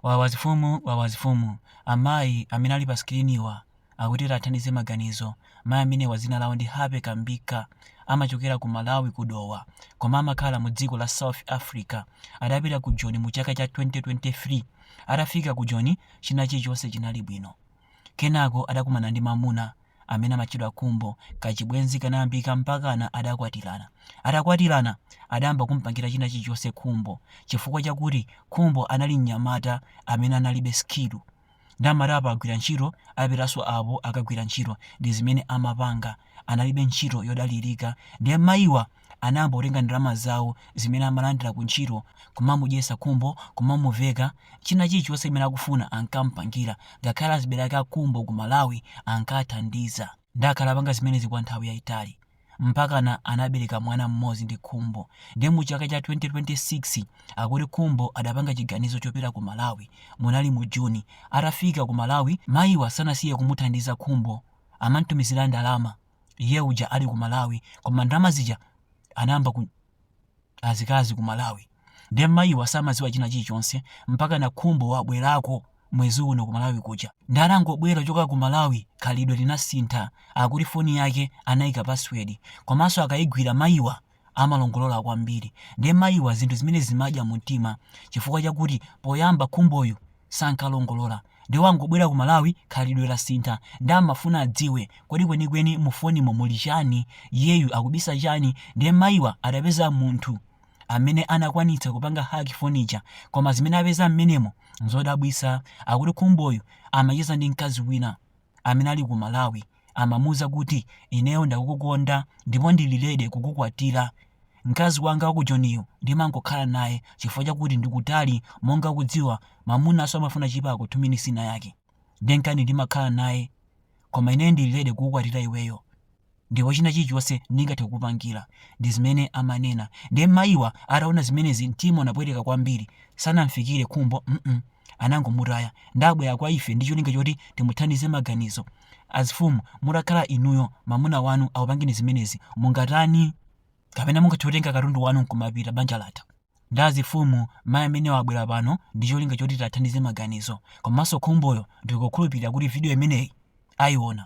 Wawa zifumu wawa zifumu amayi amene ali pa sikiliniwa akuti tathandize maganizo mayi amenewa dzina lawo ndi Happy Kambikha amachokera ku Malawi ku Dowa koma amakhala mu dziko la South Africa adapita ku Joni mu chaka cha 2023 atafika ku Joni chinachilichonse chinali bwino Kenako adakumana ndi mamuna amene amatchedwa Khumbo. Kachibwenzi kanayambika mpakana adakwatirana. Atakwatirana, adayamba kumpangira china chilichonse Khumbo chifukwa chakuti Khumbo anali mnyamata amene analibe sikilu. Nde amati apa agwira ntchito, apitanso apo akagwira ntchito. Ndi zimene amapanga. Analibe ntchito yodalirika. Nde mayiwa. anayamba kutenga ndalama zawo zimene amalandira ku ntchito, kumamudyetsa Khumbo, kumamuveka, china chilichonse chimene akufuna ankamupangira, ngakhale azibale ake a Khumbo ku Malawi ankathandiza. Nde akhala apanga zimenezi kwa nthawi yaitali, mpakana anabereka mwana mmodzi ndi Khumbo, nde mu chaka cha 2026 akuti Khumbo adapanga chiganizo chopita ku Malawi, munali mu June, atafika ku Malawi mayiwa sanasiye kumuthandiza Khumbo, amantumizira ndalama. iye uja ali ku malawi koma ndalama zija anayamba ku azikazi ku malawi ndiye mayiwa samadziwa china chilichonse mpakana khumbo wabwerako mwezi uno ku malawi kuja ndiye anangobwera kuchoka ku malawi khalidwe linasintha akuti foni yake anayika password komanso akayigwira mayiwa amalongolola kwambiri nde mayiwa zinthu zimenezi zimawadya mumtima chifukwa chakuti poyamba khumboyu sankalongolola nde wangobwera ku Malawi khalidwe lasintha nde amafuna adziwe kodi kwenikweni mu fonimu muli chani iyeyu akubisa chani nde mayiwa adapeza munthu amene anakwanitsa kupanga hack foni ija koma zimene apeza mmenemo nzodabwitsa akuti khumboyu amacheza ndi mkazi wina amene ali ku Malawi amamuuza kuti ineyo ndikukukonda ndipo ndili ready kukukwatira. Mkazi wanga wa ku Joniyu ndimangokhala naye chifukwa chakuti ndi kutali monga ukudziwa mamunanso amafuna chipako 2 minutes inayake. Nde nkani ndimakhala naye. Koma ineyo ndili ready kukukwatira iweyo. Ndipo china chilichonse ndingathe kukupangira. Ndi zimene amanena. Ndiye mayiwa ataona zimenezi mtima unapweteka kwambiri. Sanamfikire Khumbo mm anangomutaya. Nde abwera kwa ife ndi cholinga choti timuthandize maganizo. Azifumu mutakhala inuyo mamuna wanu akupangeni zimenezi mungatani? Kapena mungathe kutenga katundu wanu nkumapita banja latha. Nde azifumu mayi amenewa abwera pano ndi cholinga choti tiwathandize maganizo. Komanso Khumboyo ndikukhulupirira kuti video imeneyi aiona.